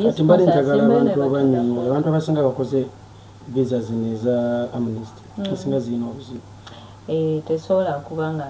kati mbadde njagala abantu abanyonyola abantu abasinga bakoze visa zino eza amnesty mm. esinga zirina obuzibu eh, tesobola kuba nga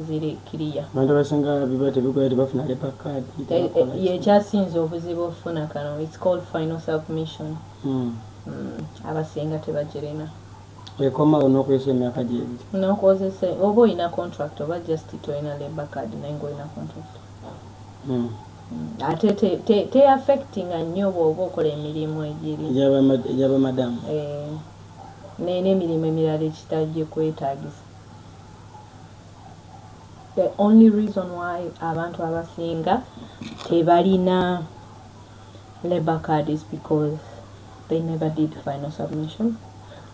ziri kiriya abantu abasinga biba tebikola tebafuna lepa card eh, eh, yekyasinze obuzibu okufuna kano its called final submission mm. Mm, abasinga tebagirina ekomawo nokozesa emyaka gyebiri nokozesa oba olina contract oba just tolina lepa card naye nga olina contract ate teyaffectinga nnyo bwoba okola emirimu egiri egyabamadamu eh, naye n'emirimu emirala ekitagye kwetagisa the only reason why abantu abasinga tebalina labor card is because they never did final submission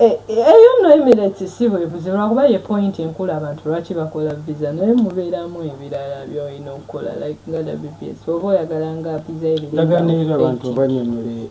Eh, eh, eyo no emirates si bwebuzi lwakuba ye point enkulu abantu lwaki bakola visa naye mubeeramu ebirala byolina okukola like nga wps oba oyagala nga visa ebiriaganirira abantu banyonyole